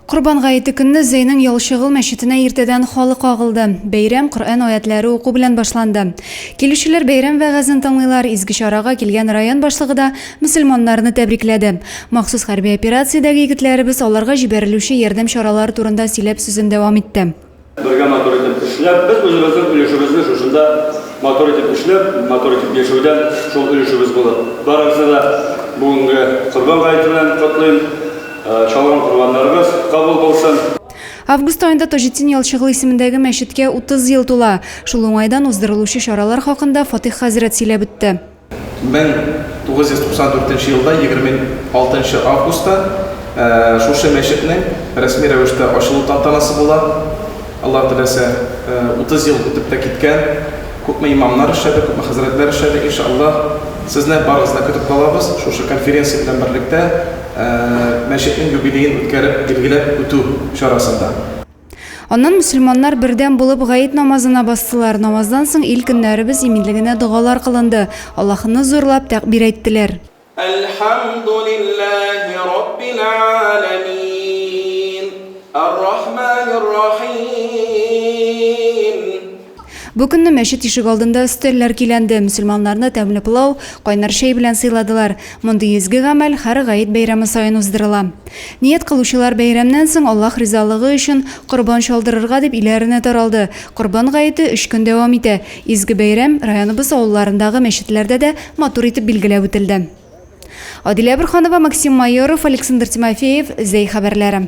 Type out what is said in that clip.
Корбан гаете көнне Зәйнең Ялчыгыл мәчетенә иртәдән халык агылды. Бәйрәм Коръән аятьләре уку белән башланды. Килүчеләр бәйрәм вәгазен тыңлыйлар, изге чарага килгән район башлыгы да мөселманнарны тәбрикләде. Махсус хәрби операциядәге егетләребез аларга җибәрелүче ярдәм чаралары турында сөйләп сүзен дәвам итте. Бергә матур итеп эшләп, без үзебезнең өлешебезне шушында матур итеп эшләп, матур итеп яшәүдән шул өлешебез булыр. Барыгызны да бүгенге Корбан гаете белән котлыйм. Чалган корбаннарыгыз кабул булсын. Август аенда Таҗетдин Ялчыгыл исемендәге мәчеткә 30 ел тула. Шул уңайдан уздырылучы чаралар хакында Фатыйх хәзрәт сөйләп үтте. 1994 нче елда 26 нчы августта шушы мәчетнең рәсми рәвештә ачылу тантанасы була. Аллаһ теләсә, 30 ел үтеп тә киткән, күпме имамнар эшләде, күпме хәзрәтләр эшләде. Иншааллаһ, сезне барыгызны да көтеп калабыз, шушы конференция белән берлектә мәчетнең юбилеен үткәреп, билгеләп үтү чарасында. Аннан мөселманнар бердәм булып гаит намазына бастылар. Намаздан соң ил көннәребез иминлегенә догалар кылынды. Аллаһыны зурлап тәкъбир әйттеләр. Әлхәмдүлилләһи раббил галәмиин, ар-рахманир рахиим. Бу көнне мәчет ишегалдында өстәлләр көйләнде, мөселманнарны тәмле пылау, кайнар чәй белән сыйладылар. Мондый изге гамәл һәр гает бәйрәме саен уздырыла. Ният кылучылар бәйрәмнән соң Аллаһ ризалыгы өчен корбан чалдырырга дип өйләренә таралды. Корбан гаете өч көн дәвам итә. Изге бәйрәм районыбыз авылларындагы мәчетләрдә дә матур итеп билгеләп үтелде. Адилә Борһанова, Максим Майоров, Александр Тимофеев, Зәй хәбәрләре.